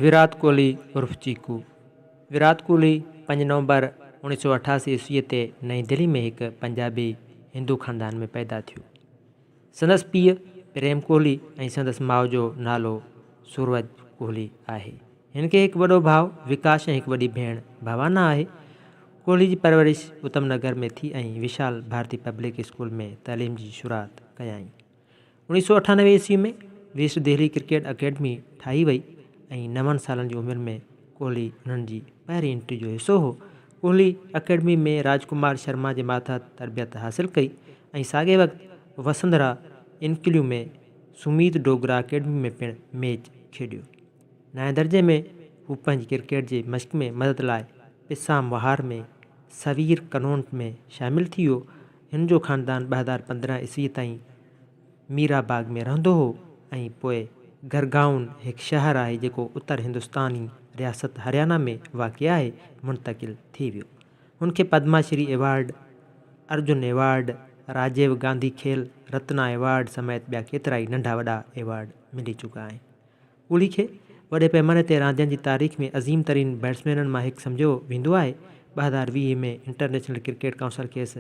ويرات ڪوهلي عرف Chiku, Virat Kohli، پنج نومبر اوڻيهه سؤ اٺاسي عيسويء تي نئين دهلي ۾ هڪ پنجابي هندو خاندان ۾ پيدا ٿيو. سندس پيء پريم ڪوهلي ۽ سندس ماء جو نالو سورج ڪوهلي آهي. هن کي هڪ وڏو ڀاء وڪاش ۽ هڪ وڏي ڀيڻ ڀاوانا آهي. ڪوهلي جي پرورش اتم نگر ۾ ٿي ۽ وشال ڀارتي پبلڪ اسڪول ۾ تعليم جي شروعات ڪيائين. اوڻيهه سؤ اٺانوي عيسوي ۾ ويسٽ دهلي ڪرڪيٽ اڪيڊمي ٺاهي وئي ۽ نون سالن جي عمر ۾ ڪوهلي انهن جي پهرين انٽري جو حصو هو ڪوهلي اڪيڊمي ۾ راج ڪمار شرما جي ماتحت تربيت حاصل ڪئي ۽ ساڳئي وقت وسنڌرا انڪليو ۾ سميت ڊوگرا اڪيڊمي ۾ پڻ ميچ کيڏيو. نائين درجي ۾ هو پنهنجي ڪرڪيٽ جي مشق ۾ مدد لاء پسام وهار ۾ سوير ڪنونٽ ۾ شامل ٿي ويو. هن جو خاندان ٻه هزار پندرهن عيسويء تائين ميرا باغ ۾ رهندو هو ۽ پوء گرگائون هڪ شهر آهي جيڪو اتر هندستاني رياست هريانا ۾ واقع آهي، منتقل ٿي ويو. هن کي Padma Shri award, Arjuna award, Rajiv Gandhi Khel Ratna award سميت ٻيا ڪيترائي ننڍا وڏا ايوارڊ ملي چڪا آهن. ڪولي کي وڏي پئماني تي راندين جي تاريخ ۾ عظيم ترين بيٽسمينن مان هڪ سمجهيو ويندو آهي، ٻه هزار ويهه ۾ انٽرنيشنل ڪرڪيٽ ڪائونسل کيس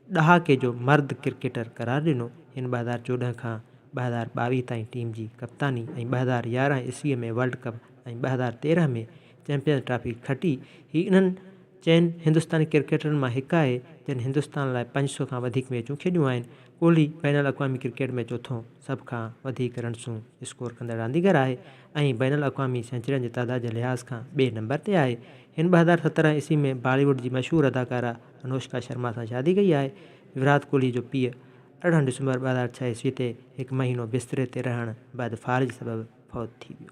ڏهاڪي جو مرد ڪرڪيٽر قرار ڏنو، هن ٻه هزار چوڏهن کان ٻه هزار ٻاويهه تائين ٽيم جي ڪپتاني ۽ ٻه هزار يارهن عيسويء ۾ ورلڊ ڪپ ۽ ٻه هزار تيرهن ۾ چيمپيئنز ٽرافي کٽي، هي انهن چئن هندستاني ڪرڪيٽرن مان هڪ آهي جن هندستان لاء پنج سؤ کان وڌيڪ ميچون کيڏيون آهن، ڪولي بين الاقوامي ڪرڪيٽ ۾ چوٿون. سڀ کان وڌيڪ رنسون اسڪور ڪندڙ رانديگر آهي ۽ بين الاقوامي سينچرين جي تعداد جي لحاظ کان ٻئي نمبر تي آهي. هن ٻه هزار سترهن عيسوي ۾ بالي ووڊ جي مشهور اداڪارا انوشڪا شرما سان شادي ڪئي آهي. وراٽ ڪوهلي جو پيء ارڙهن ڊسمبر ٻه هزار ڇهه عيسوي تي هڪ مهينو بستري تي رهڻ بعد فالج سبب فوت ٿي ويو.